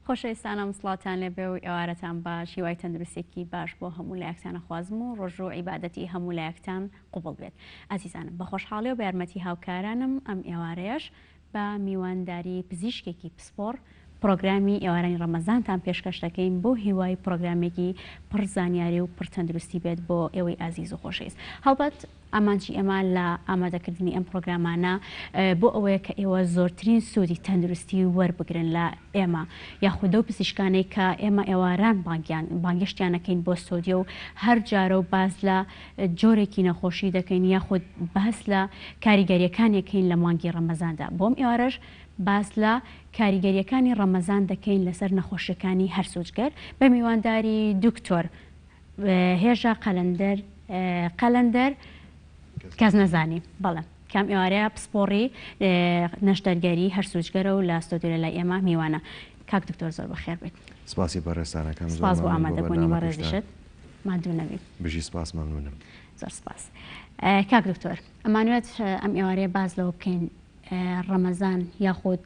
خۆشەویستانم سڵاتان لێبێ و ئێوارەتان باش هیوای تەندروستێکی باش بۆ هەموو لایەکتانە خوازم و ڕۆژ و عیباەتی هەموو لایەکتان قوبڵ بێت ئازیزانم بە خۆشحاڵی و بارمەتی هاوکارانم ئەم ئێوارەیەش بە میوانداری پزیشکێکی پسپۆڕ پرۆگرامی ئێوارانی ڕەمەزانتان پێشکەش دەکەین بۆ هیوای پرۆگرامێکی پڕ زانیاری و پڕ تەندروستی بێت بۆ ئێوەی ئازیز و خۆشەویست هەڵبەت ئامانجی ئێمە لە ئامادەکردنی ئەم پڕۆگرامانە بۆ ئەوەیە کە ئێوە زۆرترین سوودی تەندروستی وەربگرن لە ئێمە یاخود ئەو پزیشکانەی کە ئێمە ئێواران بانگیان بانگێشتیان نەکەین بۆ سۆدیۆ و هەر جارە و باس لە جۆرێکی نەخۆشی دەکەین یاخود باس لە کاریگەریەکانێکین لە مانگی ڕەمەزاندا بۆم ئێوارەش باس لە کاریگەریەکانی ڕەمەزان دەکەین لەسەر نەخۆشیەکانی هەرسوجگەر بە میوانداری دکتۆر هێژا قەلەندەر قەلەندەر کەس نەزانی بەڵێ کام ئێوارەیە پسپۆڕی نەشتەرگەری هەر سوچگەرە و لە ستۆدیۆ لای ئێمە میوانە کاک دکتۆر زۆر بەخێر بێت سپاسی بەڕێستانەکەم سپاس بۆ ئامادەبوونی بەڕێزیشت مادوو نەبی بژی سپاس مەمنونم زۆر سپاس کاک دکتۆر ئەمانوێت ئەم ئێوارەیە باس لەوە بکەین ڕەمەزان یاخود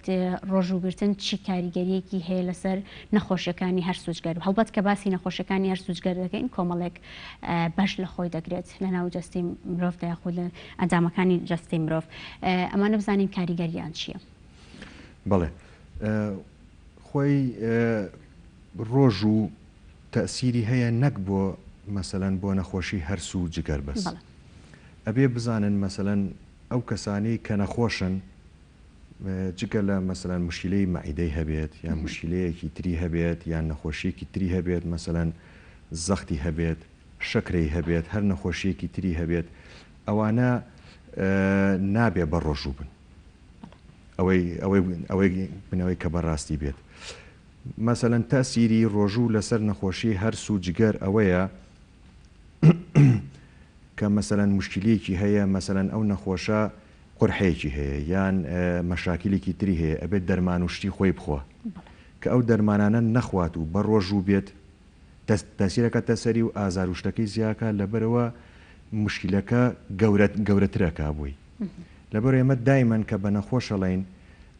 ڕۆژوو گرتن چی کاریگەریەکی هەیە لەسەر نەخۆشیەکانی هەر سوچگەر و هەڵبەت کە باسی نەخۆشیەکانی هەر سوچگەر دەکەین کۆمەڵێک بەش لە خۆی دەگرێت لە ناو جستی مرۆڤ داخود لە ئەندامەکانی جستی مرۆڤ ئەمانە بزانین کاریگەریان چییە بڵێ خۆی ڕۆژ و تەسیری هەیە نەک بۆ مەسەەن بۆ نەخۆشی هەرسو جگەر بەس. ئەبێ بزانن مەسەلەن ئەو کەسانەی کە نەخۆشن جگە لە مەسەلەن مشکیلەی مەعیدەی هەبێت یان مشکیلەیەکی تری هەبێت یان نەخۆشیەکی تری هەبێت مەسەلەن زەختی هەبێت شەکرەی هەبێت هەر نەخۆشیەکی تری هەبێت ئەوانە نابێ بە ڕۆژوو بن ئەوەی بنەوەی کە بەڕاستی بێت مەسەلەن تاسیری ڕۆژوو لەسەر نەخۆشی هەرس و جگەر ئەوەیە کە مەسەلەن موشکیلەیەکی هەیە مەسەلەن ئەو نەخۆشە قورحەیەکی هەیە یان مەشاکیلێکی تری هەیە ئەبێت دەرمان و شتی خۆی بخوا کە ئەو دەرمانانە نەخوات و بە ڕۆژوو بێت دەست تاسیرەکە تەسەری و ئازار و شتەکەی زیاکە لەبەرەوە مشکلەکە گەورەت گەورەترەکە بووی لەبەر ئێمە دایمەن کە بە نەخۆشەڵین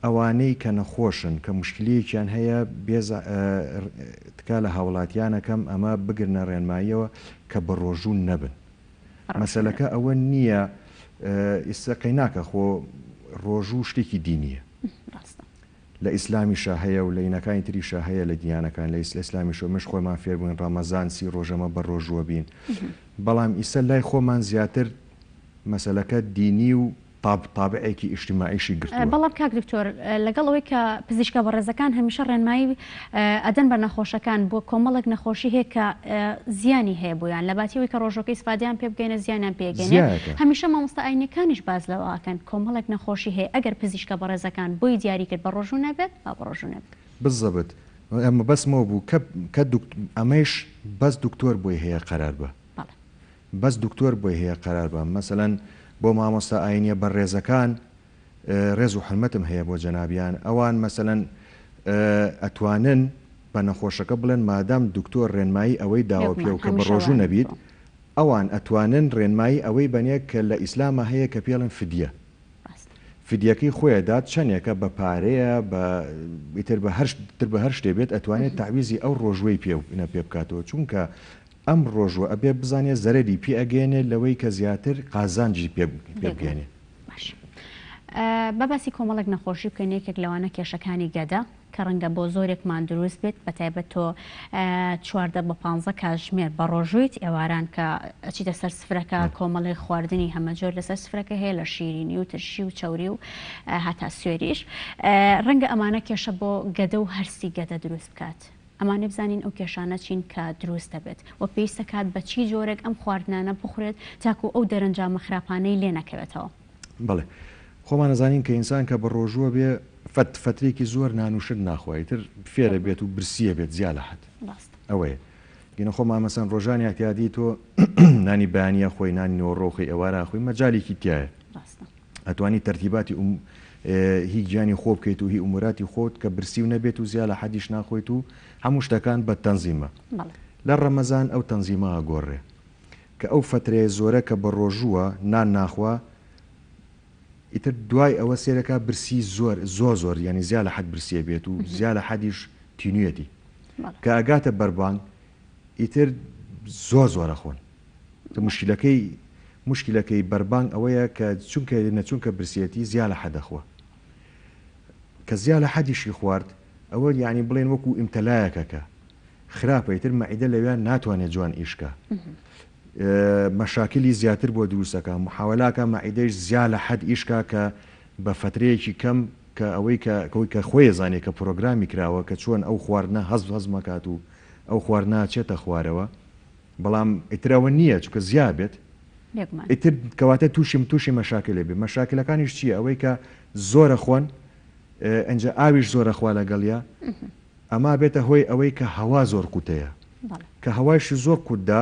ئەوانەی کە نەخۆشن کە موشکلیەکیان هەیە بێز تکا لە هاوڵاتیان ئەکەم ئەمە بگرنە ڕێنماییەوە کە بە ڕۆژوو نەبن مەسەلەکە ئەوە نییە ئیستا قەیناکە خۆ ڕۆژوو شتێکی دینیە لە ئیسلامیشە هەیە و لە ینەکانی تریشە هەیە لە دیانەکان لە ئیسل ئیسلامیشە مش خۆمان فێربووین ڕەمەزان سی ڕۆژەمە بە ڕۆژووە بین بەڵام ئیسە لای خۆمان زیاتر مەسەلەکە دینی و تاب تابعێکی ئیجتیماعیشی گرتووە. بەڵام کاک دکتۆر لەگەڵ ئەوەی کە پزیشکە بەڕێزەکان هەمیشە ڕێنمایی ئەدەن بە نەخۆشەکان بۆ کۆمەڵێک نەخۆشی هەیە کە زیانی هەیە بۆیان لەباتی ئەوەی کە ڕۆژەکەی سفادەیان پێ بگەینە زیانیان پێ گەینێ هەمیشە مامۆستا ئاینیەکانیش باس لەوە ئەکەن کۆمەڵێک نەخۆشی هەیە ئەگەر پزیشکە بەڕێزەکان بۆی دیاری کرد بە ڕۆژوو نەبێت با بە ڕۆژوو نەبێت. بالزبط مەبەستم ئەوە بوو کە ئەمەیش بەس دکتۆر بۆی هەیە قەرار بە. بەس دکتۆر بۆی هەیە قەرار بەم مەسەلەن بۆ مامۆستا ئاینیە بە ڕێزەکان ڕێز و حورمەتم هەیە بۆ جەنابیان ئەوان مەسەلەن ئەتوانن بە نەخۆشەکە بڵێن مادام دکتۆر ڕێنمایی ئەوەی داوە پێو کە بە ڕۆژوو نەبیت ئەوان ئەتوانن ڕێنمایی ئەوەی بەنێ کە لە ئیسلامە هەیە کە پێڵن فدیە فدیەکەی خۆیە دات چەندێکە بە پارەیە بە ئیتر بە هەر تر بە هەر شتێ بێت ئەتوانێت تعویزی ئەو ڕۆژوەی پێ پێ بکاتەوە چونکە ئەم ڕۆژوە ئەبێ بزانێ زەرەری پێ ئەگەیەنێ لەوەی کە زیاتر قازانجی پێ بگەیەنێ. باش با باسی کۆمەڵێک نەخۆشی بکەین یەکێک لەوانە کێشەکانی گەدە کە ڕەنگە بۆ زۆرێکمان دروست بێت بە تایبەت تۆ چواردە بە پانزە کاژمێر بە ڕۆژوویت ئێواران کە ئەچیتە سەر سفرەکە کۆمەڵی خواردنی هەمەجۆر لەسەر سفرەکە هەیە لە شیرینی و ترشی و چوری و هاتا سوێریش ڕەنگە ئەمانە کێشە بۆ گەدە و هەرسی گەدە دروست بکات ئەمانەی بزانین ئەو کێشانە چین کە دروست دەبێت و پێویستە کات بە چی جۆرێک ئەم خواردنانە بخورێت تاکو ئەو دەرەنجامە خراپانەی لێ نەکەوێتەوە. بەڵێ خۆمان ئەزانین کە ئینسان کە بەڕۆژووە بێ فەت فەترێکی زۆر نان و شت ناخوا ئیتر فێرە بێت و برسی ئەبێت جیا لە حەد ئەوەیە گینە خۆمان مەسەن ڕۆژان ئیعتیادی تۆ نانی بەیانی ئەخۆی نانی نێوەڕۆ ئەخۆی ئێوارە ئەخۆی مەجالیکی تیایە ئەتوانی تەرتیباتی ئوم هی گیانی خۆ بکەیت و هی ئوموراتی خۆت کە برسی و نەبێت و زیا لە حەدیش ناخۆیت و هەموو شتەکان بە تەنزیمە لە ڕەمەزان ئەو تەنزیمە ئەگۆڕێ کە ئەو فەترەیە زۆرە کە بە ڕۆژووە نان ناخوا ئیتر دوای ئەوە سێرەکە برسی زۆر زۆر زۆر یعنی زیا لە حەد برسیە بێت و زیا لە حەدیش تینویەتی کە ئەگاتە بەربانگ ئیتر زۆر زۆرە خۆن موشکیلەکەی موشکیلەکەی بەربانگ ئەوەیە کە چونکە نەچونکە برسیەتی زیا لە حەدە خوا کە زیا لە حەدیشی خوارد ئەوە یعنی بڵێن وەکو ئیمتەلایەکە کە خراپە ئیتر مەعیدە لەوێ ناتوانێت جوان ئیشکە مەشاکلی زیاتر بۆ دروستەکە محاولاکە مەعیدەش زیا لە حەد ئیشکا کە بە فترەیەکی کەم کە ئەوەی کە کەوی کە خۆی زانێ کە پرۆگرامی کراوە کە چۆن ئەو خواردنە هەز هەزمەکات و ئەو خواردنە چێتە خوارەوە بەڵام ئیتر ئەوە نییە چونکە زیا بێت ئیتر کەواتە تووشی تووشی مەشاکل لێبێ مەشاکلەکانیش چییە ئەوەی کە زۆرە خۆن ئەجا ئاویش زۆرە خوا لەگەڵە ئەما بێتە هۆی ئەوەی کە هەوا زۆر قوتەیە کە هەوایش زۆر قوتدا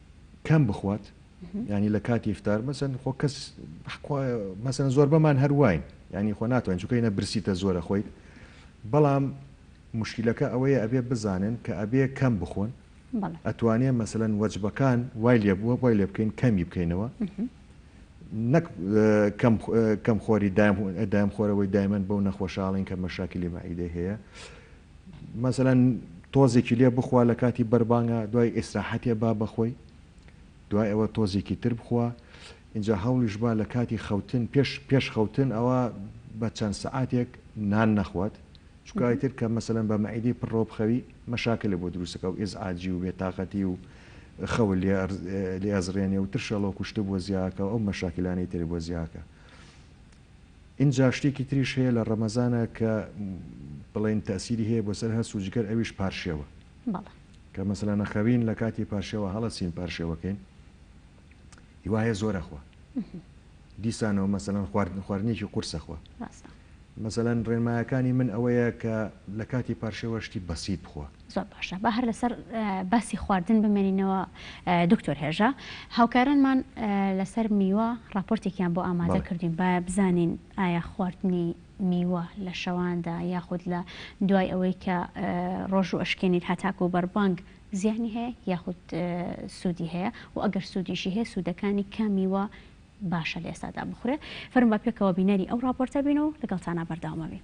کەم بخوات یانی لە کاتی ئیفتار مەسەن خۆ کەس مەسەن زۆربەمان هەرواین ینی خۆ ناتوانین چکەینە برسیتە زۆرە خۆیت بەڵام مشکلەکە ئەوەیە ئەبێ بزانن کە ئەبێ کەم بخۆن ئەتوانێ مەسەن وەجبەکان وای لێ بووە بۆی لێ بکەین کەمی بکەینەوە نەک کەم خۆری دایم خۆرەوەی دایمەن بەو نەخۆشاڵین کە مەشاکلی مەعیدەی هەیە مەسەلەن تۆزێکی لێ بخوا لە کاتی بەربانگا دوای ئیسراحەتێ با بەخۆی دوای ئەوە تۆزێکی تر بخوا ئینجا هەوڵیش با لە کاتی خەوتن پێش پێش خەوتن ئەوا بە چەند سەعاتێک نان نەخوات چونکە ئیتر کە مەسەلەن بە مەعیدەی پڕەوە بخەوی مەشاکلێ بۆ دروست دەکا و ئیزعاجی و بێ تاقەتی و خەوت لێ لێ ئەزڕێنێ و ترشەڵۆک و شتە بۆ زیاکا و ئەو مەشاکلانەی تر بۆ زیاکا ئینجا شتێکی تریش هەیە لە ڕەمەزانا کە بڵێین تەئسیری هەیە بۆ سەر هەست و جگەر ئەویش پارشێوە بەڵێ. کە مەسەلا نەخەوین لە کاتی پارشێوە هەڵەچین پارشێوەکەین هیوایە زۆر ئەخوا دیسانەوە مەسەلەن خواردن خواردنێکی قورس ئەخوا ڕاستە. مەسەلەن ڕێنمایەکانی من ئەوەیە کە لە کاتی پارشێوە شتی بەسیت بخوا. زۆر باشە با هەر لەسەر باسی خواردن بمێنینەوە دکتۆر هێژا هاوکارانمان لەسەر میوە ڕاپۆرتێکیان بۆ ئامادە کردین با بزانین ئایا خواردنی میوە لە شەواندا یاخود لە دوای ئەوەی کە ڕۆژ و ئەشکێنیت هەتاکو و بەربانگ زیانی هەیە یاخود سوودی هەیە و ئەگەر سوودیشی هەیە سوودەکانی کامیوە باشە لە ئێستادا بخورێ فەرم بە پێکەوە بینەری ئەو ڕاپۆرتە بین و لەگەڵتانە بەرداومەبین.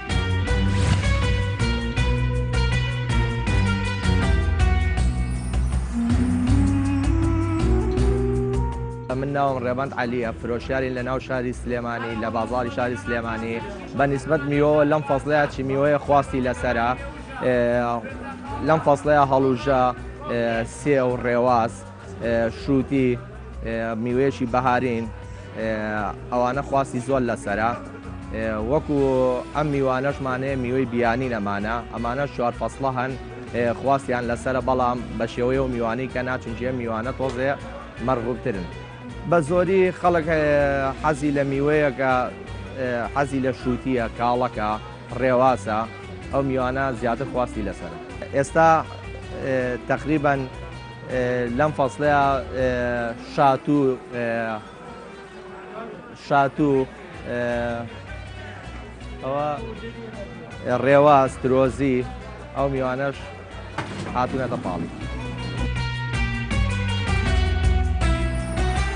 من ناوم ڕێبەند عەلیە فرۆشیارین لە ناو شاری سلێمانی لە بازاری شاری سلێمانی بە نسبت میۆ لەم فەزلەیە چی میوەیە خواستی لەسرە لەم فەزلەیە هەڵوژە سێ و ڕێواز شروتی، میوەیەکی بەهارین، ئەوانە خواستی زۆر لەسەرە، وەکو ئەم میوانەشمان هەیە میوەی بیانین ئەمانە، ئەمانەش چوار فەسڵە هەن خواستیان لەسەرە بەڵام بەشێوەی ئەو میوانەی کە نا چونکی ئەم میوانە تۆزێ مەرغوبترن. بەزۆری خەڵک حەزی لە میوەیەکە حەزی لە شروتیە، کاڵەکە، ڕێواسە، ئەو میوانە زیاتر خواستی لەسەرە ئێستا تەقریبەن. لەم فەسڵەیا شات و شات و ئەوە ڕێواز ترۆزی ئەو میوانەش هاتوونەتە پاڵی.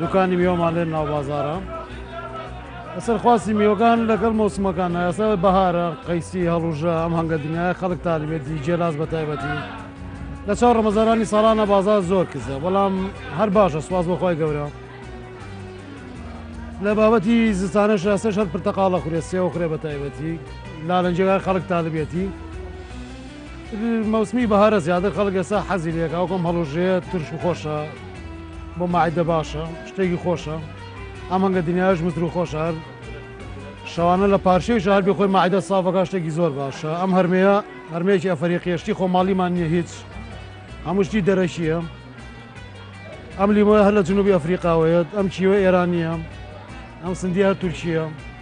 دوکانی میوەمان لێ ناو بازارە لەسەر خواستی میوەکان لەگەڵ مۆسمەکان ئێستا بەهارە قەیسی هەڵوژە ئەم هەنگە دنیای خەڵک تالیبێتی جێلاس بە تایبەتی لە چاو ڕەمەزارانی ساڵانە بازار زۆر کزە بەڵام هەر باشە سواز بەخوای گەورە لە بابەتی زستانە شاستە شەر پرتەقاڵە خورێ سێوە خورێ بە تایبەتی لالەنجێگای خەڵک تاالبێتی مەوسمی بەهارە زیاتر خەڵک ئێستا حەزی لێکە ئەو کۆم هەڵوژەیە ترش و خۆشە بۆ ماعدە باشە شتێکی خۆشە ئەمەگە دنیاش متر و خۆش هەر شەوانە لە پارشەی شار بێ خۆی ماعدە سافەکە شتێکی زۆر باشە ئەم هەرمەیە هەرمێکی ئەفری قێشتی خۆماڵیمان نیە هیچ هەمووشتی دەرەکیە ئەم لیمۆە هەر لە جنوبی ئەفریقاوەیەت ئەم کیوە ئێرانیە ئەم سندی هەر تورکیە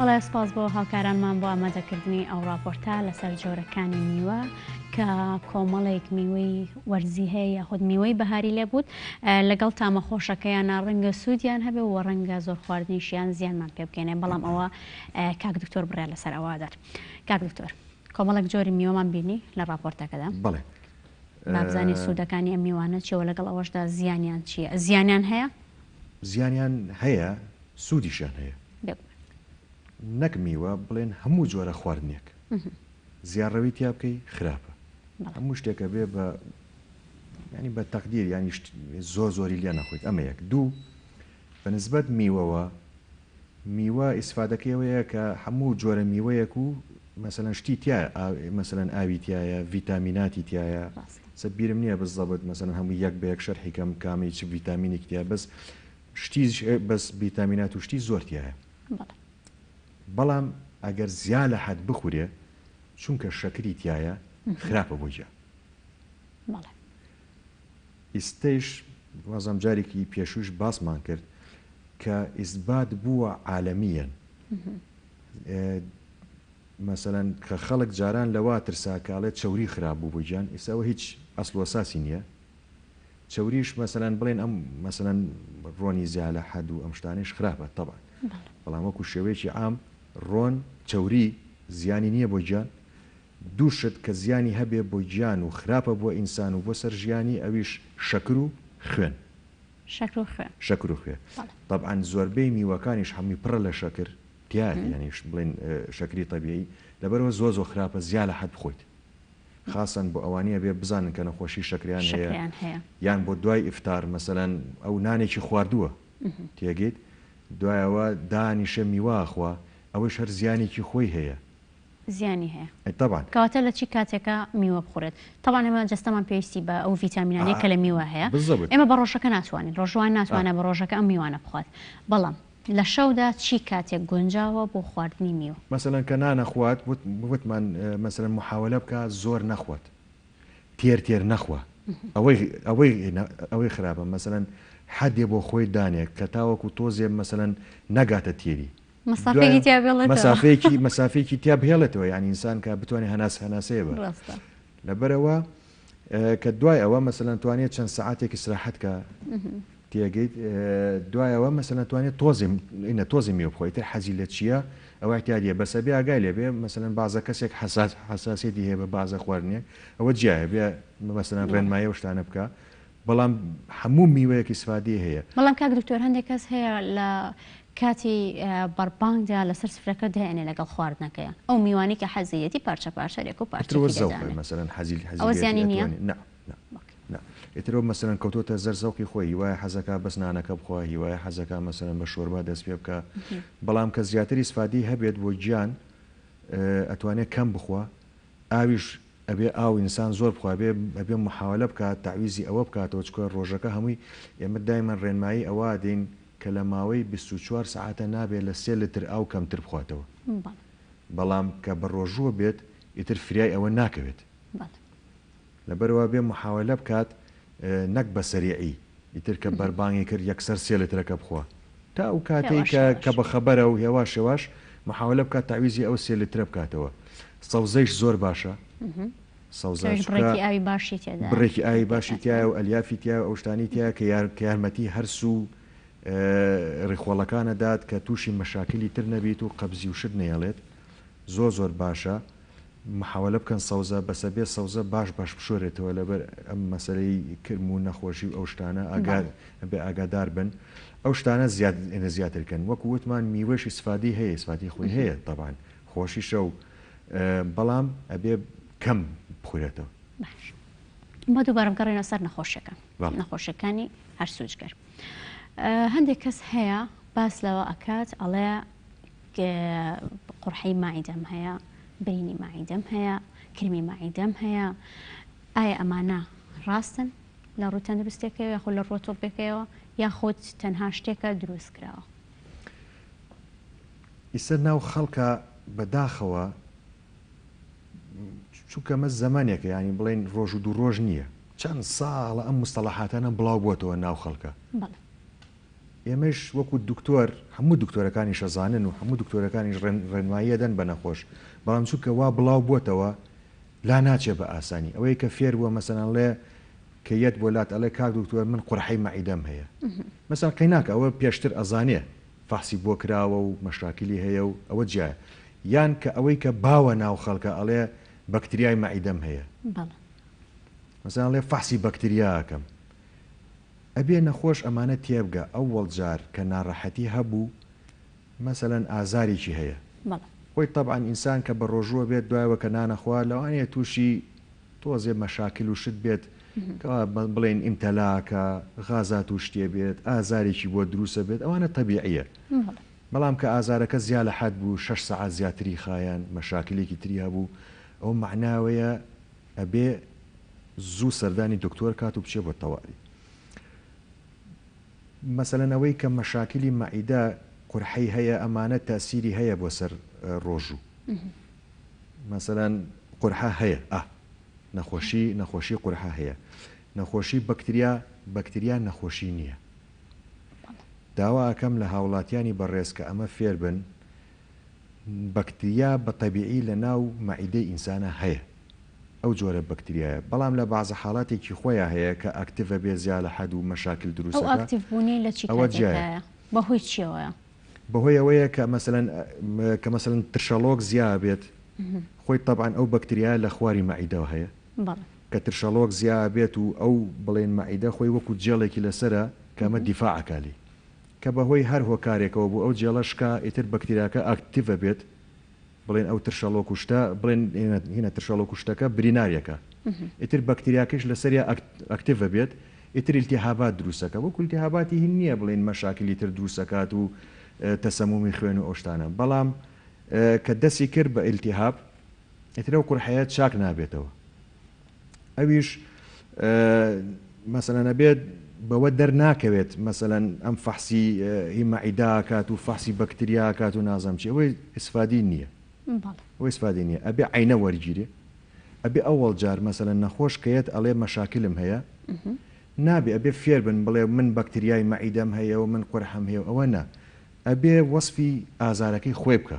بەڵێ سپاس بۆ هاوکارانمان بۆ ئامادەکردنی ئەو ڕاپۆرتە لەسەر جۆرەکانی میوە کە کۆمەڵێک میوەی وەرزی هەیە یاخود میوەی بەهاری لێ بووت لەگەڵ تامە خۆشەکەیانە ڕەنگە سوودیان هەبێ و ڕەنگە زۆر خواردنیشیان زیانمان پێ بکەێنێ بەڵام ئەوە کاک دکتۆر بڕێ لەسەر ئەوادات کاک دکتۆر کۆمەڵک جۆری میوەمان بینی لە ڕاپۆرتەکەدا بڵێ بابزانین سودەکانی ئەم میوانە چیە وە لەگەڵ ئەوەشدا زیانیان چیە زیانیان هەیە؟ زیانیان هەیە سودیشیان هەیە بێگومان. نەک میوە بڵێن هەموو جۆرە خواردنێک زیاڕەوی تیا بکەی خراپە هەموو شتێک ئەبێ بە ینی بە تەقدیر ینی زۆر زۆری لێ نەخۆیت ئەمە یەک دوو بە نسبەت میوەوە، میوە ئیسفادەکەی ئەوەیە کە هەموو جۆرە میوەیەک و مەسەلەن شتی تیایە مەسەلەن ئاوی تیایە ڤیتامیناتی تیایە ڕاستە. سە بیرم نیە بزەبت مەسەلەن هەموو یەک بە یەک شەرحی کەم کامی چ ڤیتامینێکی تیایە بەس شتی بەس ڤیتامینات و شتی زۆر تیایە بەڵێ. بەڵام ئەگەر زیا لە حەد بخورێ چونکە شەکری تیایە خراپە بۆ گیان. بەڵێ. ئیستەیش وازم جاریکی پێشووش باسمان کرد کە ئیسبات بووە عالەمیەن مەسەەن کە خەڵک جاران لەوا ترساکاڵێت چوری خراپ بوو بۆ گیان ئێساەوە هیچ ئەسلۆساسی نییە چوریش مەسەەن بڵێن ئەم مەسەەن ڕۆنی زیالە حەد و ئەم شتانش خراپە تەبا بەڵام وەکو شێوەیەکی ئام ڕۆن چوری زیانی نییە بۆ گیان دوو شت کە زیانی هەبێ بۆ گیان و خراپە بۆ ئینسان و بۆ سەر ژیانی ئەویش شەکر و خوێن. شەکر و خوێن. شەکر و خوێن. بەڵێ. تەبعەن زۆربەی میوەکانیش هەمووی پڕە لە شەکر تیایە یانی بڵێن شەکری تەبیعی لەبەرەوە زۆر زۆر خراپە زیا لە حەد بخۆیت خاسەن بۆ ئەوانی ئەبێ بزانن کە نەخۆشی شەکریان هەیە شەکریان هەیە. یان بۆ دوای ئیفتار مەسەلەن ئەو نانێکی خواردووە تێگەیت دوای ئەوە دانیشێ میوە ئەخوا ئەوەیش هەر زیانێکی خۆی هەیە زیانی هەیە طبعا. کەواتە لە چی کاتێکا میوە بخورێت؟ طبعا ئێمە جەستەمان پێویستی بە ئەو ڤیتامینانەیە کە لە میوە هەیە بالضبط. ئێمە بە ڕۆژەکە ناتوانین ڕۆژووان ناتوانێت بە ڕۆژەکە ئەم میوانە بخوات بەڵام لە شەودا چی کاتێک گونجاوە بۆ خواردنی میوە؟ مەسەلەن کە نانەخوات وتمان مەسەلەن محاوەلە بکا زۆر نەخوات تێر تێر نەخوا ئەوەی ئەوەی ئەوەی خراپە مەسەلەن حەدێ بۆ خۆی دانێ کە تاوەکو تۆزێ مەسەلەن نەگاتە تێری مەسافەیەکی تیا بێڵێتەوە مەسافەیەکی مەسافەیەکی تیا بهێڵێتەوە یعنی ئینسان کە بتوانێت هەناس هەناسەیە بە ڕاستە لەبەرەوە ئە، کە دوای ئەوە مەسەلەن توانێت چەند سعاتێک استراحەت کە تێگەیت ئە، دوایەوە مەسەلەن توانێت تۆزی ئینە تۆزی میوە بخۆی تر حەزی لە چییە ئەوە احتیاجیە بەسە بێ ئاگای لێ بێ مەسەلەن بازە کەسێک حساس حساسێتی هەیە بە بازە خواردنێک ئەوە جیایە بێ مەسەلەن ڕێنمایە و شتانە بکە بەڵام هەموو میوەیەک ئیسفادەی هەیە. بەڵام کاک دکتۆر هەندێک کەس هەیە لە کاتی بەڕبانگدا لەسەر سفرەکە دەیەنێ لەگەڵ خواردنەکەی ئەو میوانەی کە حەزیەتی پارچە پارچە لێک و پارچەکی دەدانێ ئیتر وە زەوقە مەسەلەن حەزی حەزی ئەوە زیانی نیە؟ لێیەتی ئەتوانی نا نا نا ئیتر وە مەسەلەن کەوتۆتە زەر زەوقی خۆی هیوایە حەزەکا بەس نانەکە بخوا هیوایە حەزەکا مەسەلەن بە شۆربا دەست پێ بکا بەڵام کە زیاتر ئیسفادەی هەبێت بۆ گیان ئەتوانێ کەم بخوا ئاویش ئەبێ ئاو ئینسان زۆر بخوا بێ ئەبێ محاولە بکات تەعویزی ئەوە بکاتەوە چکۆ ڕۆژەکە هەمووی ئێمە دایمەن ڕێنمایی ئەوە دەین کە لە ماوەی بیست و چوار سەعاتە نابێ لە سێ لتر ئاو کەمتر بخواتەوە بەڵام کە بە ڕۆژووە بێت ئیتر فریای ئەوە ناکەوێت. لەبەرئەوە بێ محاولە بکات نەک بە سەریعی ئیتر کە بەربانگی کرد یەکسەر سێ لترەکە بخوە تا ئەو کاتەی کە کە بە خەبەرە و هێواش هێواش محاولە بکات تەعویزی ئەو سێ لترە بکاتەوە سەوزەیش زۆر باشە سەوزە چونکە بڕێکی ئاوی باشی تێدایە بڕێکی ئاوی باشی تیایە و ئەلیافی تیایە و ئەو شتانەی تیایە کە یار کە یارمەتی هەرس و ڕیخۆڵەکان ئەدات کە تووشی مەشاکلی تر نەبیت و قەبزی و شت نەیەڵێت زۆر زۆر باشە محاوەلە بکەن سەوزە بەسە بێ سەوزە باش باش بشۆرێتەوە لەبەر ئەم مەسەلەی کرم و نەخۆشی و ئەو شتانە ئاگا بەڵێ. بێ ئاگادار بن ئەو شتانە زیاد ئێنە زیاتر کەن وەکو وتمان میوەش ئیسفادی هەیە ئیسفادی خۆی هەیە تەبان خۆشیشە و بەڵام ئەبێ کەم بخورێتەوە. باش با دووبارە بگەڕێینەوە سەر نەخۆشیەکان بەڵێ. نەخۆشیەکانی هەرسو جگەر هەندێک کەس هەیە باس لەوە ئەکات ئەڵێ. قورحەی مەعیدەم هەیە، برینی مەعیدەم هەیە، کرمی مەعیدەم هەیە، ئایا ئەمانە ڕاستن لە ڕووی تەندروستێکەوە یاخود لە ڕووە تۆپێکەوە یاخود تەنها شتێکە دروست کراوە؟ ئیسە ناو خەڵکە بەداخەوە چونکە مە زەمانێکە ینی بڵین ڕۆژ و دوو ڕۆژ نییە چەند ساڵە ئەم مستەڵەحاتانە بڵاو بۆتەوە ناو خەڵکە ئێمەیش وەکو دکتۆر هەموو دکتۆرەکانیش ئەزانن و هەموو دکتۆرەکانیش ڕێنمایی ئەدەن بە نەخۆش بەڵام چونکە وا بڵاو بۆتەوە لا ناچێ بە ئاسانی ئەوەی کە فێر بووە مەسەلەن ڵێ کە یەت بۆ لات ئەڵێ کاک دکتۆر من قورحەی مەعیدەم هەیە مەسەلەن قەیناکە ئەوە پێشتر ئەزانێ فەحسی بۆ کراوە و مەشاکلی هەیە و ئەوە جیایە یان کە ئەوەی کە باوە ناو خەڵکە ئەڵێ بەکتریای مەعیدەم هەیە مەسەلەن ڵێ فەحسی بەکتریا ئەکەم ئەبێ نەخۆش ئەمانە تێبگا ئەوەڵ جار کە ناڕەحەتی هەبوو مەسەلەن ئازارێکی هەیە بەڵێ. خۆی تەبعەن ئینسان کە بەڕۆژووە بێت دوایەوە کە نانەخوا لەوانەیە تووشی تۆزێ مەشاکل و شت بێت کەوا بڵێین ئیمتەلاکە غازات و شتێ بێت ئازارێکی بۆ دروسە بێت ئەوانە تەبیعیە بەڵام کە ئازارەکە زیا لە حەد بوو شەش سەعات زیاتری خایاند مەشاکلێکی تری هەبوو ئەوە مەعناوەیە ئەبێ زوو سەردانی دکتۆر کات و بچێ بۆ تەواری مەسەلەن ئەوەی کە مەشاکلی مەعیدە قورحەی هەیە ئەمانە تاسیری هەیە بۆ سەر ڕۆژوو مەسەلەن قورحە هەیە ئە نەخۆشی نەخۆشی قورحە هەیە نەخۆشی بەکتریا بەکتریا نەخۆشی نییە داوا ئەکەم لە هاوڵاتیانی بەڕێز کە ئەمە فێربن بەکتریا بە تەبیعی لە ناو مەعیدەی ئینسانا هەیە ئەو جۆرە بەکتریایە بەڵام لە بەعزە حالاتێکی خۆیا هەیە کە ئەکتڤە بێ زیا لە حەد و مەشاکل دروست ئەکا ئەو ئەکتڤ بوونەی لە چی کاتێکدایە بە هۆی چیەوەیە؟ بە هۆی ئەوەیە کە مەسەلەن کە مەسەلەن ترشەڵۆک زیا بێت خۆی تەبعەن ئەو بەکتریایە لە خواری مەعیدەوە هەیە کە ترشەڵۆک زیا بێت و ئەو بڵێن مەعیدە خۆی وەکو جێڵێکی لەسەرە کە ئەمە دیفاع ئەکا لێی کە بە هۆی هەر هۆکارێکەوە بوو ئەو جێڵە شکا ئیتر بەکتریاکە ئاکتیڤ ئەبێت بڵێن ئەو ترشەڵۆک و شتە بڵێن هینە ترشەڵۆک و شتەکە بریناریەکە ئیتر بەکتریاکەش لەسەریا ئاکتیڤ ئەبێت ئیتر التهابات دروست ئەکا وەکو التهاباتی هین نیە بڵێن مەشاکلی تر دروست ئەکات و تەسەمومی خوێن و ئەو شتانە بەڵام کە دەسی کرد بە التهاب ئیتر ئەو قورحەیە چاک نابێتەوە. ئەویش مەسەلەن ئەبێت بەوە دەرناکەوێت مەسەلەن ئەم فەحسی هی مەعیداکات و فەحسی بەکتریاکات و نازەم چی ئەوەی ئیسفادی نییە ئەوەی ئیسفادی نییە ئەبێ عینە وەرگیرێ ئەبێ ئەوەڵ جار مەسەلەن نەخۆش کەیەت ئەڵێ مەشاکلم هەیە نابێ ئەبێ فێر بن بڵێ من بەکتریای مەعیدەم هەیە و من قورحم هەیە و ئەوە نا ئەبێ وەسفی ئازارەکەی خۆی بکە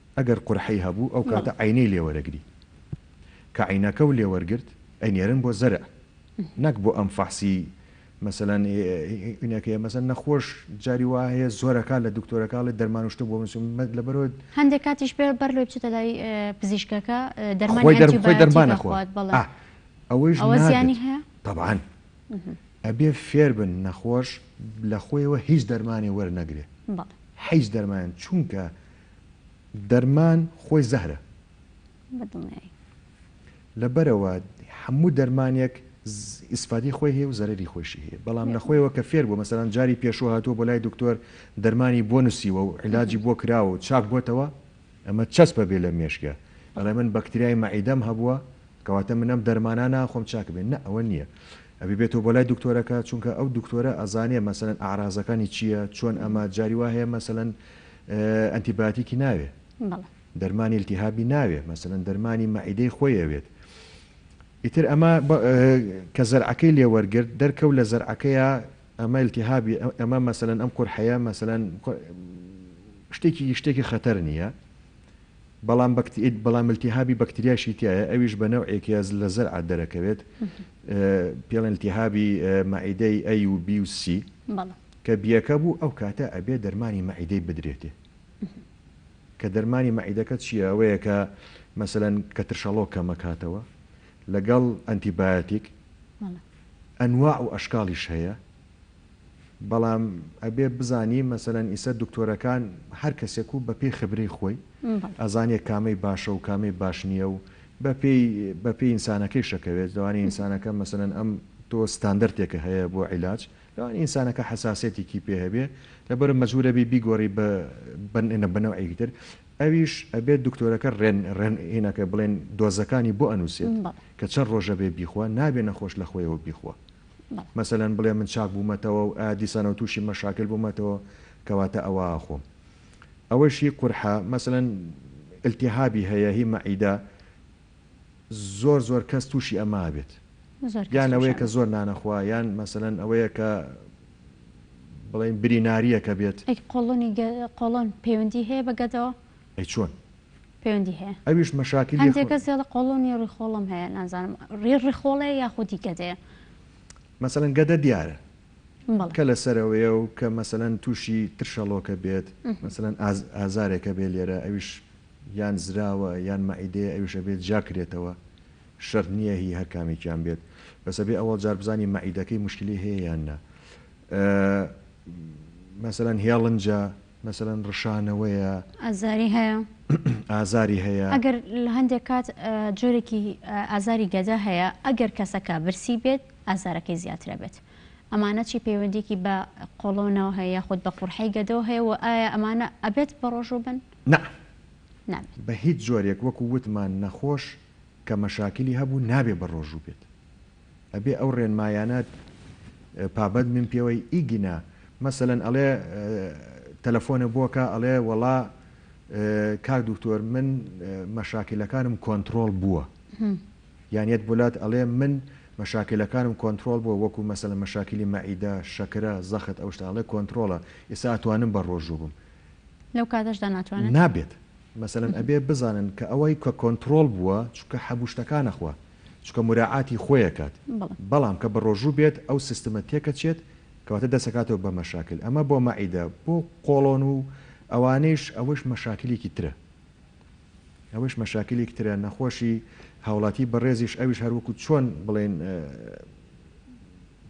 ئەگەر قورحەی هەبوو ئەو کاتە عەینەی لێ وەرەگری کە عەینەکەو لێ وەرگرت ئەینێرن بۆ زەرع نەک بۆ ئەم فەحسی مەسەلەن ئینەکەیە مەسەن نەخۆش جاری وایە زۆرەکە لە دکتۆرەکەڵێ دەرمانوشتە بۆ مسم مەد لە بەرۆت هەندێک کاتیش بێ بەر لۆ بچێتە لای پزیشکەکە دەرمانی دەرخۆی دەرمانە خۆات بەڵا ئەوەیش زیانی هەیە طبعاان ئەبێ فێر بن نەخۆش لە خۆیەوە هیچ دەرمانی وەرنەگرێ حیز دەرمان چونکە دەرمان خۆی زەهرە. بە دڵنیایی. لەبەرئەوە هەموو دەرمانێک ئیسفادەی خۆی هەیە و زەرەری خۆیشی هەیە بەڵام لە خۆیەوە کە فێر بووە مەسەلەن جاری پێشوو هاتووە بۆ لای دکتۆر دەرمانی بۆ نووسیوە و عیلاجی بۆ کراوە و چاک بۆتەوە ئەمە چەسپە بێ لە مێشکە ئەڵێ من بەکتریای مەعیدەم هەبووە کەواتە من ئەم دەرمانە ناخۆم چاک بێ نە ئەوە نییە ئەبی بێتەوە بۆ لای دکتۆرەکە چونکە ئەو دکتۆرە ئەزانێ مەسەلەن ئەعرازەکانی چییە چۆن ئەمە جاری وا هەیە مەسەلەن ئەنتی بایۆتیکی ناوێ بەڵێ. دەرمانی التهابی ناوێ مەسەلەن دەرمانی مەعیدەی خۆی ئەوێت ئیتر ئەمە کە زەرعەکەی لێ وەرگرت دەرکەوت لە زەرعەکەیە ئەمە التهابی ئەمە مەسەلەن ئەم قورحەیە مەسەلەن شتێکی شتێکی خەتەر نییە بەڵام بەکتیت بەڵام التهابی بەکتریاشی تایە ئەویش بە نەوعێکی ئەز لە زەرعە دەرەکەوێت پێڵێن التهابی مەعیدەی ئەی و بی و سی بەڵام کە بیەکە بوو ئەو کاتە ئەبێ دەرمانی مەعیدەی بدرێتێ کە دەرمانی مەعیدەکە چیە ئەوەیە کە مەسەلەن کە ترشەڵۆک کەمەکاتەوە لەگەڵ ئەنتیبایەتیک ئەنواع و ئەشکاڵیش هەیە بەڵام ئەبێ بزانی مەسەلەن ئیسە دکتۆرەکان هەر کەسێک و بەپێی خبرەی خۆی ئەزانێ کامەی باشە و کامەی باش نییە و بەپێی بەپێی ئینسانەکەی شەکەوێت لەوانی ئینسانەکە مەسەلەن ئەم تۆ ستاندەرتێکە هەیە بۆ عیلاج لەوان ئینسانەکە حەساسیەتیکی پێ هەبێ لەبەرئەوە مەجبور ئەبی بیگۆری بە بە نەوعێکی تر ئەویش ئەبێ دکتۆرەکە ڕێن ڕێن هینەکە بڵێن دۆزەکانی بۆ ئەنوسێت کە چەن ڕۆژە بێ بیخوا نابێ نەخۆش لە خۆیەوە بیخوا مەسەلەن بڵێ من چاک بوومەتەوە و ئا دیسانەوە تووشی مەشاکل بوومەتەوە کەواتە ئەوە ئاخۆم ئەوەش هی قورحە مەسەلەن التهابی هەیە هی مەعیدە زۆر زۆر کەس توشی ئەمە ئەبێت زۆر کەس یان ئەوەیە کە توشانە. زۆر نانەخوا یان مەسەلەن ئەوەیە کە بڵێین بری ناریەکە بێت. ئەی قۆڵۆنی گە قۆڵۆن پەیوەندی هەیە بە گەدەوە؟ ئەی چۆن؟ پەیوەندی هەیە ئەویش مەشاکلی هەندێ خۆ. کەس دەڵێ قۆڵۆنی ڕیخۆڵەم هەیە نازانم ڕی ڕیخۆڵەیە یاخودی گەدەیە. مەسەلەن گەدە دیارە کە لە سەرەوەیە و کە مەسەلەن تووشی ترشەڵۆکە بێت، مەسەلەن ئازارێکە بێت لێرە ئەویش یان زراوە یان مەعیدەیە ئەویش ئەبێت جیا کرێتەوە، شەرت نییە هی هەر کامێکیان بێت، بەس ئەبێ ئەوەڵ جار بزانین مەعیدەکەی موشکیلی هەیە یان نا. مەسەلەن هێڵنجە، مەسەلەن ڕشانەوەیە. ئازاری هەیە. ئازاری هەیە. ئەگەر هەندێک کات جۆرێکی ئازاری گەدە هەیە ئەگەر کەسەکە برسی بێت ئازارەکەی زیاتر ئەبێت ئەمانە چی پەیوەندیەکی بە قۆڵۆنەوە هەیە یاخود بە قورحەی گەدەوە هەیە وە ئایا ئەمانە ئەبێت بەڕۆژوو بن؟ نا نابێت. بە هیچ جۆرێک وەکو وتمان نەخۆش کە مەشاکلی هەبوو نابێت بەڕۆژوو بێت ئەبێ ئەو ڕێنمایانە پابەند بن پێوەی ئیگینا مەسەلەن ئەڵێ تەلەفۆنە بۆکە ئەڵێ وەڵا کاک دوکتۆر من مەشاکلەکانم کۆنتڕۆڵ بووە. یان یەت بولات ئەلێ من مەشاکیلەکانم کۆنترۆڵ بوە وەکو مەسەلەن مەشاکیلی مەعیدە شەکرە زەخت ئەو شتانە ئەڵێ کۆنترۆڵە ئیستا ئەتوانم بە رۆژو بم لەو کاتەشدا ناتوانن؟ نابێت مەسەلەن ئەبێ بزانن کە ئەوەی کە کۆنترۆڵ بوە چونکە حەبو شتەکان ئەخوا چونکە موراعاتی خۆی ئەکات بەڵێ. بەڵام کە بە رۆژو بێت ئەو سیستمە تێکەچێت کەواتە دەست ئەکاتەوە بە مەشاکیل ئەمە بۆ مەعیدە بۆ قۆڵۆن و ئەوانەیش ئەوەش مەشاکیلێکی ترە. ئەوەش مەشاکیلیک ترە نەخۆشی هاوڵاتی بەڕێزیش ئەویش هەر وەکو چۆن بڵێن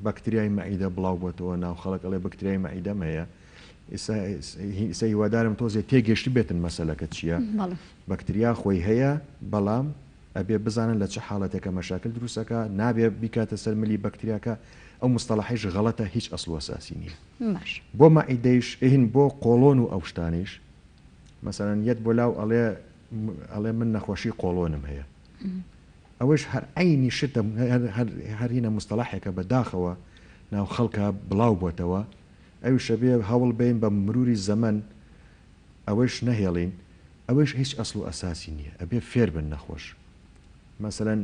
بەکتریای مەعیدە بڵاو بۆتەوە ناو خەڵک ئەڵێ بەکتریای مەعیدەم هەیە ئیسە هیوادارم تۆزێ تێگەشت بێتن مەسەلەکە چییە بەکتریا خۆی هەیە بەڵام ئەبێ بزانن لە چه حاڵەتێکە مەشاکل دروستەکە نابێ بیکاتە سەر ملی بەکتریاکە ئەو مستەڵحیش غەڵەتە هیچ ئەسڵوەساسی نییە بۆ مەعیدەیش ئەهین بۆ قۆڵۆن و ئەوشتانیش مەسەلەن یەت بۆ لاو ئەڵێ ئەڵێ من نەخۆشی قۆڵۆنم هەیە ئەوەش هەر عەینی شتە هەر هینە مستەڵاحێکە بە داخەوە ناو خەڵکا بڵاو بۆتەوە ئەویش ئەبێ هەوڵ بێین بە مروری زەمەن ئەوەیش نەهێڵین ئەوەیش هیچ ئەسڵ و ئەساسی نییە ئەبێ فێر بن نەخۆش مەسەلەن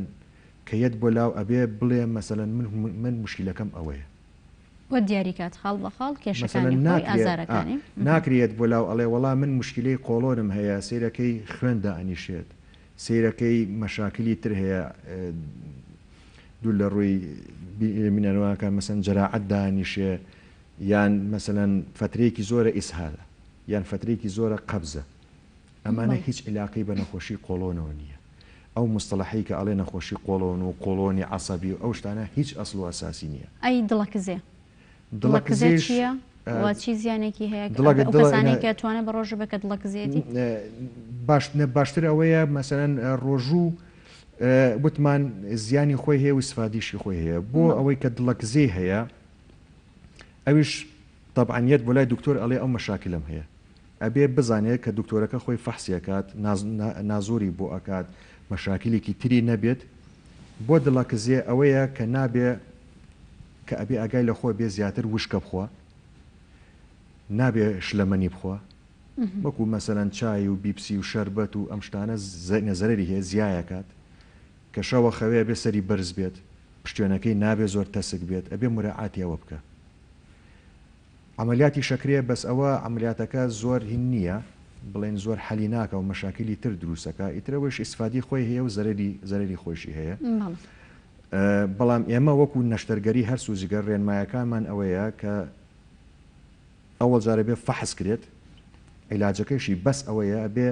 کە یەت بۆ لاو ئەبێ بڵێ مەسەلەن من من موشکیلەکەم ئەوەیە. و دیاری کات خاڵ بە خاڵ کێشەکانی خۆی ئازارەکانی. مەسەلەن ناکرێت، ناکرێت بۆ لاو ئەڵێ وەڵا من موشکیلەی قۆڵۆنم هەیە سەیرەکەی خوێن دائەنیشێت سەیرەکەی مەشاکلی تر هەیە دوور لە ڕووی بینەرەوانەکان مەسەلەن جەراعەت دائەنیشێ یان مەسەلەن فەترەیەکی زۆرە ئیسهالە یان فەترەیەکی زۆرە قەبزە. ئەمانە هیچ ئیلاقەی بە نەخۆشی قۆڵۆنەوە نییە ئەو مستەڵەحەی کە ئەڵێ نەخۆشی قۆڵۆن و قۆڵۆنی عەسەبی و ئەو شتانە هیچ ئەسڵ و ئەساسی نییە. ئەی دڵەکزێ؟ دڵەکزێ دڵەکزێش چییە و چی زیانێکی هەیە دڵە ئەو دڵە کەسانەی کە توانە بە ڕۆژوو بێ کە دڵەکزێتی؟ باش نە باشتر ئەوەیە مەسەلەن ڕۆژوو وتمان زیانی خۆی هەیە و ئیسفادیشی خۆی هەیە بۆ ئەوەی کە دڵەکزێ هەیە ئەویش تەبعەن یەت بۆ لای دکتۆر ئەڵێ ئەو مەشاکلەم هەیە ئەبێ بزانێت کە دکتۆرەکە خۆی فەحسی ئەکات نازۆری بۆ ئەکات مەشاکیلێکی تری نەبێت بۆ دڵە کزێ ئەوەیە کە نابێ کە ئەبێ ئاگای لە خۆ بێ زیاتر وشکە بخوا نابێ شلەمەنی بخوا وەکو مەسەلەن چای و بیپسی و شەربەت و ئەم شتانە زەینە زەرەری هەیە زیایەکات کە شەوە خەوێ بێ سەری بەرز بێت پشتێنەکەی نابێ زۆر تەسک بێت ئەبێ مراعاتی ئەوە بکە. عەمەلیاتی شەکرێ بەس ئەوە عەمەلیاتەکە زۆر هین نیە بڵێن زۆر حەلی ناکا و مەشاکیلی تر دروست ئەکا ئیتر ئەوەیش ئیسفادی خۆی هەیە و زەرەری زەرەری خۆیشی هەیە بەڵام ئێمە وەکو نەشتەرگەری هەرس و جگەر رێنمایەکانمان ئەوەیە کە ئەوەڵ جارە بێ فەحس کرێت عیلاجەکەیشی بەس ئەوەیە ئەبێ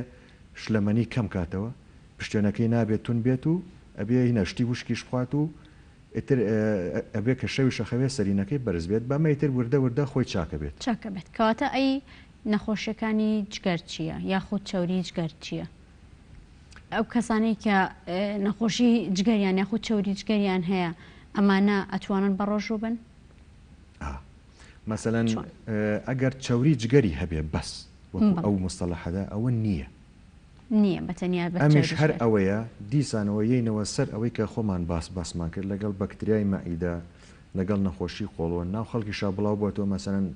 شلەمەنی کەم کاتەوە پشتێنەکەی نابێت تون بێت و ئەبێ هینە شتی وشکیش بخوات و ئیتر ئەبێ کە شەویش ئەخەوێ سەرینەکەی بەرز بێت بەمە ئیتر وردە وردە خۆی چاک ئەبێت. چاک ئەبێت کەواتە ئەی نەخۆشیەکانی جگەر چیە یاخود چەوری جگەر چیە؟ ئەو کەسانەی کە نەخۆشی جگەریان یاخود چەوری جگەریان هەیە ئەمانە ئەتوانن بەڕۆژوو بن؟ ئا مەسەلەن چۆن؟ ئەگەر چەوری جگەری هەبێ بەس وەکو بەڵێ. ئەو موستەڵەحەدا ئەوە نیە نیە بە تەنیا بەس ئەمیش چاویش هەر بێت. ئەوەیە دیسانەوە یەینەوە سەر ئەوەی کە خۆمان باس باسمان کرد لەگەڵ بەکتریای مەعیدە لەگەڵ نەخۆشی قۆڵۆن ناو خەڵکیشا بڵاو بۆتەوە مەسەلەن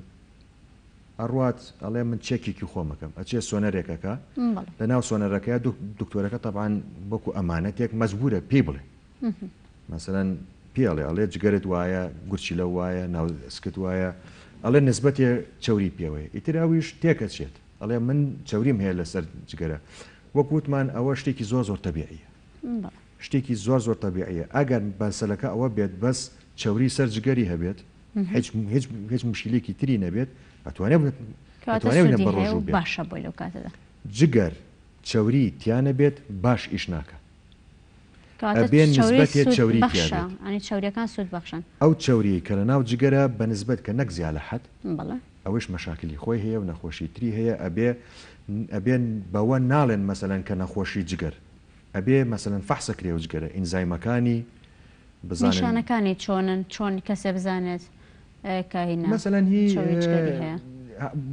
ئەڕوات ئەڵێ من چێکیکی خۆم ئەکەم ئەچێ سۆنەرێک ئەکا بەڵێ لە ناو سۆنەرەکەیا دو دکتۆرەکە تەبعەن وەکو ئەمانەتێک مەجبورە پێی بڵێ مەسەلەن پێی ئەڵێ ئەڵێ جگەرت وایە گورچیلە وایە ناو سکت وایە ئەڵێ نسبەتێ چەوری پێوەیە ئیتر ئەویش تێک ئەچێت دەڵێ من چەوریم هەیە لەسەر جگەرە وەک وتمان ئەوە شتێکی زۆر زۆر تەبیعیە شتێکی زۆر زۆر تەبیعیە ئەگەر بەسەلەکە ئەوە بێت بەس چەوری سەر جگەری هەبێت هیچ مشیلێکی تری نەبێت ئەتوانێت بەڕۆژوو باشە بۆی لەو کاتەدا جگەر چەوری تیانە بێت باش ئیش ناکە چاوریەکان سوود بەخشن ئەو چاوری کە لە ناو جگەرە بەنسبەت کە نەک زیالە حەت ئەوەیش مەشاکلی خۆی هەیە و نەخۆشی تری هەیە ئەبێ ئەبێ بەوە ناڵێن مەسەلەن کە نەخۆشی جگەر ئەبێ مەسەلەن فەحسەکرێ و جگەرە ئینزایمەکانی بزانن. نیشانەکانی چۆنن چۆن کەسێ بزانێت کە هینا مەسەلەن هی چەوری جگەری هەیە.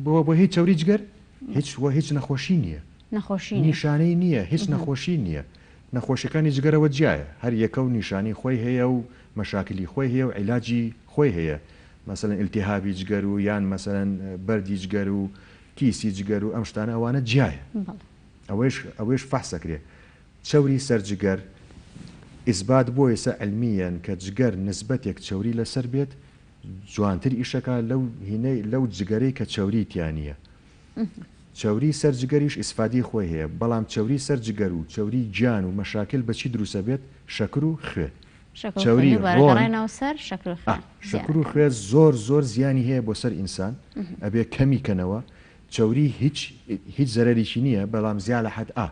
بۆ هی چەوری جگەر هیچ وە هیچ نەخۆشی نییە نەخۆشی نیە نیشانەی نییە هیچ نەخۆشی نییە نەخۆشیەکانی جگەرەوە جیایە هەر یەکە و نیشانی خۆی هەیە و مەشاکلی خۆی هەیە و عیلاجی خۆی هەیە مەسەلەن ئیلتیهابی جگەر و یان مەسەلەن بەردی جگەر و کیسی جگەر و ئەم شتانە ئەوانە جیایە ئەوەیش ئەوەیش فەحس ئەکرێ چەوری سەر جگەر ئیسبات بووە ئێستا علمیەن کە جگەر نسبەتێک چەوری لەسەر بێت جوانتر ئیشەکا لەو هینەی لەو جگەرەی کە چەوری تیا نیە چەوری سەر جگەریش ئیسفادی خۆی هەیە بەڵام چەوری سەر جگەر و چەوری گیان و مەشاکل بەچی دروسە بێت شەکر و خوێ چەوری ڕۆن ئا شەکر و خوێ زۆر زۆر زیانی هەیە بۆ سەر ئینسان ئەبێ کەمی کەنەوە چەوری هیچ هیچ زەرەریی نییە بەڵام زیا لە حەد ئا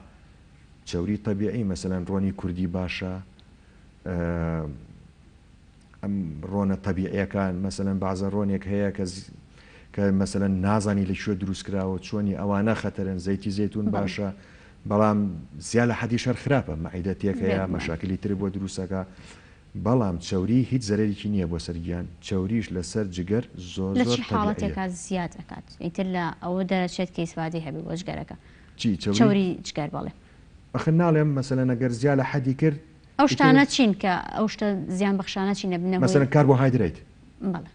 چەوری تەبیعی مەسەلەن ڕۆنی کوردی باشە ئەم ڕۆنە تەبیعیەکان مەسەلەن بازە ڕۆنێک هەیە کە کە مەسەلەن نازانی لە کوێ دروستکراوە چۆنی ئەوانە خەتەرن زەیتی زەیتون باشە بەڵام زیا لە حەدیش هەر خراپە مەعیدە تێکەیا مەشاکلی تر بۆ دروستەکا بەڵام چەوری هیچ زەرەرێکی نییە بۆ سەر گیان چەوریش لەسەر جگەر زۆر زۆر تەبیعیە. لە چی حاڵەتێکا زیاد ئەکات ئیتر لە ئەوە دەرەچێت کە ئیسفادەی هەبێت بۆ جگەرەکە چی چەوری جگەر بەڵێ. ئەخر ناڵێم مەسەلەن ئەگەر زیا لە حەدی کرد. ئەو شتانە چین کە ئەو شتە زیان بەخشانە چین ئەبنە هۆی. مەسەلەن کاربۆهایدرەیت. بەڵێ.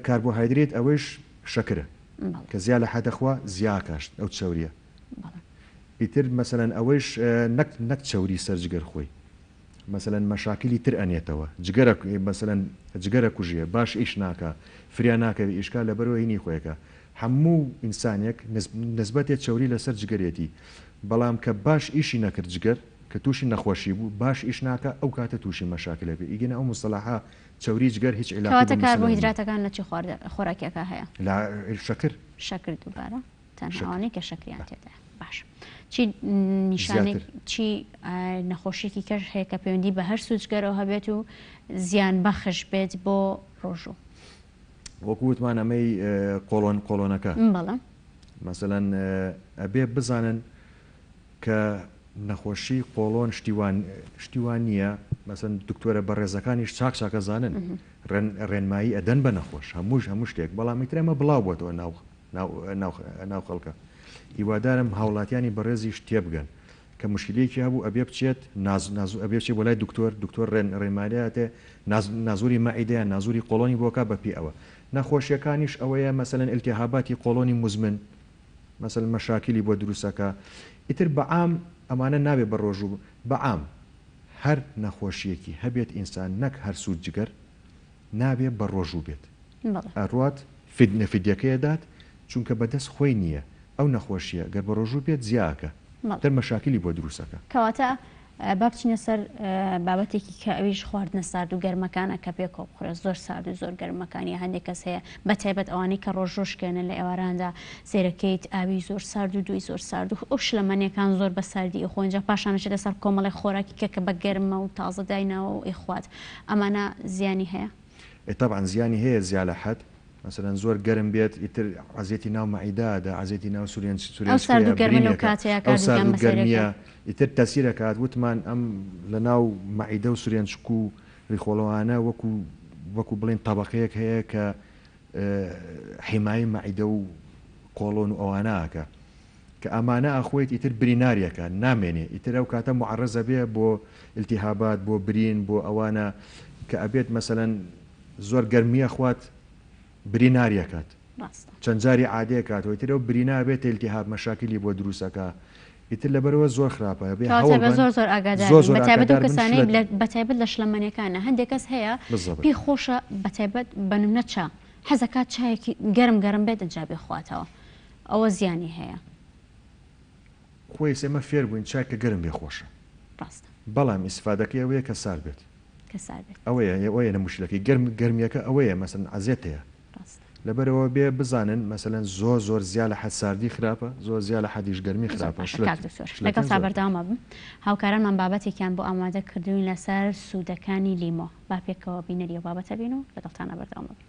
کاربۆهایدرەیت ئەوەیش شەکرە. بەڵێ. کە زیا لە حەد ئەخوا زیا ئەکا ئەو چەورییە. ئیتر مەسەلەن ئەوەیش نەک نەک چەوری سەر جگەر خۆی مەسەلەن مەشاکیلی تر ئەنێتەوە جگەرە مەسەلەن جگەرە کوژێ باش ئیش ناکا فریا ناکەوێ ئیشکا لەبەرەوە هینی خۆیەکە هەموو ئینسانێک نسبەتێ چەوری لەسەر جگەرێتی بەڵام کە باش ئیشی نەکرد جگەر کە تووشی نەخۆشی بوو باش ئیش ناکا ئەو کاتە تووشی مەشاکل ئەبێ ئیگینا ئەو موستەلاحە چەوری جگەر هیچ عیلاقەی بە کەواتە کاربۆهیدراتەکان لە چی خۆراکێکا هەیە؟ لە شەکر. شەکر دووبارە. تەنها ئەوانەی کە شەکریان تێدایە باش چی نیشانێک چی نەخۆشیێکی کەش هەیە کە پەیوەندی بە هەر سوچگەرەوە هەبێت و زیان بەخش بێت بۆ ڕۆژوو وەکووتمان ئەمەی قۆڵۆن قۆڵۆنەکە بەڵم مەسەەن ئەبێ بزانن کە نەخۆشی قۆڵۆن شتیوان شتیوان نییە مەسن دکتۆرە بەڕێزەکانیش چاک چاکەزانن ڕێنمایی ئەدەن بە نەخۆش هەمووش هەموو شتێک بەڵامی ترەمە بڵاو بۆتەوە ناو ناو خەڵکە هیوادارم هاوڵاتیانی بەڕێزیش تێبگەن کە موشکیلەیەکی هەبوو ئەبێ بچێت نازور ئەبێ بچێت بۆ لای دکتۆر دکتۆر ڕێنمایی ئەتێ نازوری مەعیدە یان نازوری قۆڵۆنی بۆ کا بەپێی ئەوە نەخۆشیەکانیش ئەوەیە مەسەلەن ئیلتیهاباتی قۆڵۆنی موزمن مەسەلەن مەشاکیلی بۆ دروست ئەکا ئیتر بە عام ئەمانە نابێ بە ڕۆژ و بە عام هەر نەخۆشیەکی هەبێت ئینسان نەک هەر سوت جگەر نابێ بە ڕۆژوو بێت ئەڕوات فدنە فدیەکەی ئەدات چونکە بە دەست خۆی نیە ئەو نەخۆشیە گەر بە ڕۆژوو بێت زیا ئەکا تر مەشاکلی بۆ دروست ئەکا. کەواتە با بچینە سەر بابەتێکی کە ئەویش خواردنە سارد و گەرمەکانە کە پێ کۆ بخورێ زۆر سارد و زۆر گەرمەکان یا هەندێک کەس هەیە بە تایبەت ئەوانەی کە ڕۆژ ڕۆژ کێنە لە ئێواراندا سێرەکەیت ئاوی زۆر سارد و دوی زۆر سارد و ئەو شلەمەنێکان زۆر بە ساردی ئەخۆن جا پاشان ئەچێتە سەر کۆمەڵێک خۆراکی کە کە بە گەرمە و تازە دایناوە و ئەیخوات ئەمانە زیانی هەیە؟ ئێ تەبعەن زیانی هەیە زیالە حەد مەسەلەن زۆر گەرم بێت ئیتر عەزێتی ناو مەعیدە ئەدا عەزێتی ناو سورێن سورێن سکرێ برین ئەکا ئەو سارد و گەرمیە ئیتر تەسیر ئەکات وتمان ئەم لە ناو مەعیدە و سورێن سک و ریخۆڵەوانە وەکو وەکو بڵێن تەبەقەیەک هەیە کە حیمای مەعیدە و قۆڵۆن و ئەوانە ئەکا کە ئامانە ئاخوویت ئیتر بری ناریەکە نامێنێ ئیتر ئەو کاتە موعەڕەز ئەبێ بۆ التهابات بۆ برین بۆ ئەوانە کە ئەبێت مەسەلەن زۆر گەرمی ئەخوات بری ناریەکات ڕاستە چەند جاری عادەیە کاتەوە ئیتر ئەو بری نابێت التهاب مەشاکلی بۆ دروست ئەکا ئیتر لەبەرەوە زۆر خراپە ئەبێ کەواتە هەوڵ بە بەن زۆر زۆر ئاگادار زۆر بن زۆر بەتایبەت ئەو ئاگادار بن کەسانەی شلە لە بەتایبەت لە شلەمەنیەکانە هەندێک کەس هەیە بالضبط پێی خۆشە بەتایبەت بە نمونە چا حەزەکات چایەکی گەرم گەرم بێت ئینجا بیخواتەوە ئەوە زیانی هەیە. خۆیس ئێمە فێر بووین چای کە گەرم بێ خۆشە ڕاستە. بەڵام ئیسفادەکەی ئەوەیە کە سارد بێت. کە سارد بێت. ئەوەیە ئەوەیە نە موشکیلەکەی گەرم گەرمیەکە ئەوەیە مەسەلەن عەزێت هەیە. ڕاستە. لەبەر ئەوە بێ بزانن مەسەلەن زۆر زۆر زیا لە حەد ساردی خراپە زۆر زیا لە حەدیش گەرمی زۆر خراپە باشە کاک دکتۆر شلەتێن لەگەڵ تا زۆر بەردەوام خراپە. ئەبم هاوکارانمان بابەتێکیان بۆ ئامادە کردووین لەسەر سوودەکانی لیمۆ با پێکەوە بینەری ئەو بابەتە بین و لەگەڵتانا بەردەوام ئەبین.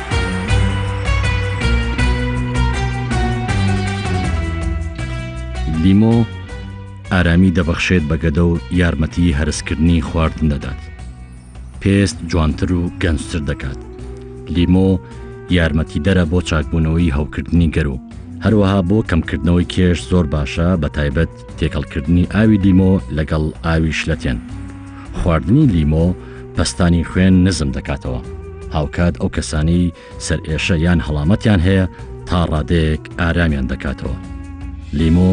لیمۆ ئارامی دەبەخشێت بە گەدە و یارمەتی هەرسکردنی خواردن دەدات پێست جوانتر و گەنجتر دەکات لیمۆ یارمەتی دەرە بۆ چاکبوونەوەی هەوکردنی گەرو هەروەها بۆ کەمکردنەوەی کێش زۆر باشە بە تایبەت تێکەڵکردنی ئاوی لیمۆ لەگەڵ ئاوی شلەتێن خواردنی لیمۆ پەستانی خوێن نزم دەکاتەوە هاوکات ئەو کەسانی سەر ئێشە یان هەڵامەتیان هەیە تا ڕادەیەک ئارامیان دەکاتەوە لیمۆ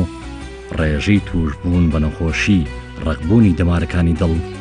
ڕێژەی تووشبوون بە نەخۆشی ڕقبوونی دەمارەکانی دڵ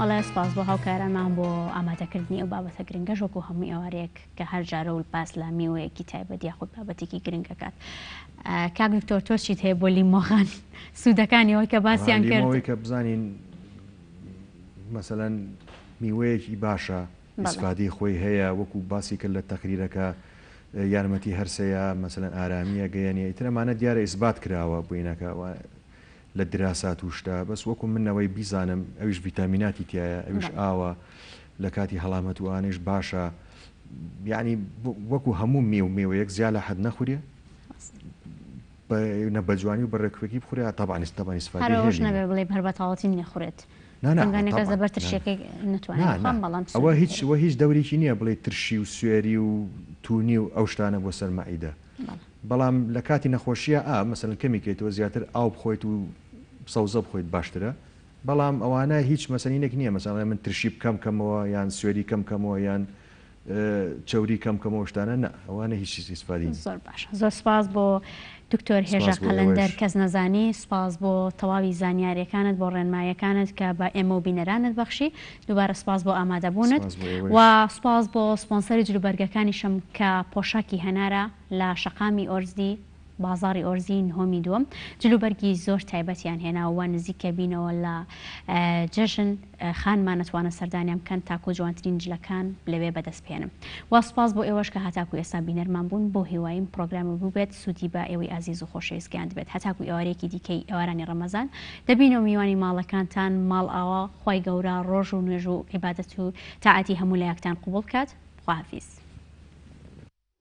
ئەڵێ سپاس بۆ هاوکارانمان بۆ ئامادەکردنی ئەو بابەتە گرنگە ژۆک و هەموو ئێوارەیەک کە هەر جارە و پاس لە میوەیەکی تایبەت یاخود بابەتێکی گرنگەکات کاک دکتۆر تۆ چیت هەیە بۆ لیمۆغان سوودەکانی ئەوەی کە باسییان کرد کە بزانین مەسەەن میوەیەکی باشە ئیسفادەی خۆی هەیە وەکو باسی کرد لە تەقریرەکە یارمەتی هەرسەیە مەسەلەن ئارامی ئەگەیەنێ ئیتر ئەمانە دیارە ئیسبات کراوە بوینەکە و لە دراسات و شتە بەس وەکو من ئەوەی بیزانم ئەویش ڤیتامیناتی تیایە ئەویش ئاوە لە کاتی هەڵامەت و ئانەیش باشە یعنی وەکو هەموو مێ و مێوەیەک زیا لە حەد نەخورێ بە نە بەجوانی و بە ڕێکوپێکی بخورێ تەبعا ئیسفادەی هەرەوەش نەبێ بڵێی هەر بە تاوەتی نەخورێت دەنگانەکە زەبەر ترشیەکەی نەتوانم بخوام بەڵام سوێرە ئەوە هیچ وە هیچ دەورێکی نییە بڵێ ترشی و سوێری و توونی و ئەو شتانە بۆ سەر مەعیدە بەڵام لە کاتی نەخۆشیە ئا مەسەلەن کەمی کەیتەوە زیاتر ئاو بخۆیت و سەوزە بخۆیت باشترە بەڵام ئەوانە هیچ مەسەلینێک نییە مەسەڵەن من ترشی بکەم کەمەوە یان سوێری کەم کەمەوە یان چەوری کەم کەمەوە شتانە نا ئەوانە هیچ ئیسفادەی نیە. زۆر باش زۆر سپاس بۆ دکتۆر هێژا سپاس بۆ قەلەندەر ئێوەش. کەس نەزانی سپاس بۆ تەواوی زانیارێکانت بۆ ڕێنمایەکانت کە بە ئێمە و بینەرانت بەخشی دووبارە سپاس بۆ ئامادەبوونت سپاس بۆ ئێوەش. و سپاس بۆ سپۆنسەری جلوبەرگەکانیشم کە پۆشاکی هەنارە لە شەقامی ئۆرزدی. بازاڕی ئۆرزی نهۆمی دووەم جلوبەرگی زۆر تایبەتیان هێناوە وا نزیکە بینەوە لە جەژن خانمان نەتوانن سەردانیان بکەن تاکو جوانترین جلەکان لەوێ بەدەست بهێنم وا سوپاس بۆ ئێوەش کە هەتاکو ئێستا بینەرمان بوون بۆ هیوایم پڕۆگرامە بووبێت سوودی بە ئێوەی ئازیز و خۆشەویست گەیاندبێت هەتاکو ئێوارەیەکی دیکەی ئێوارانی ڕەمەزان دەبینەوە میوانی ماڵەکانتان ماڵئاوا خوای گەورە ڕۆژ و نوێژ و عیبادەت و تاعەتی هەموو لایەکتان قبوڵ بکات خواحافیز.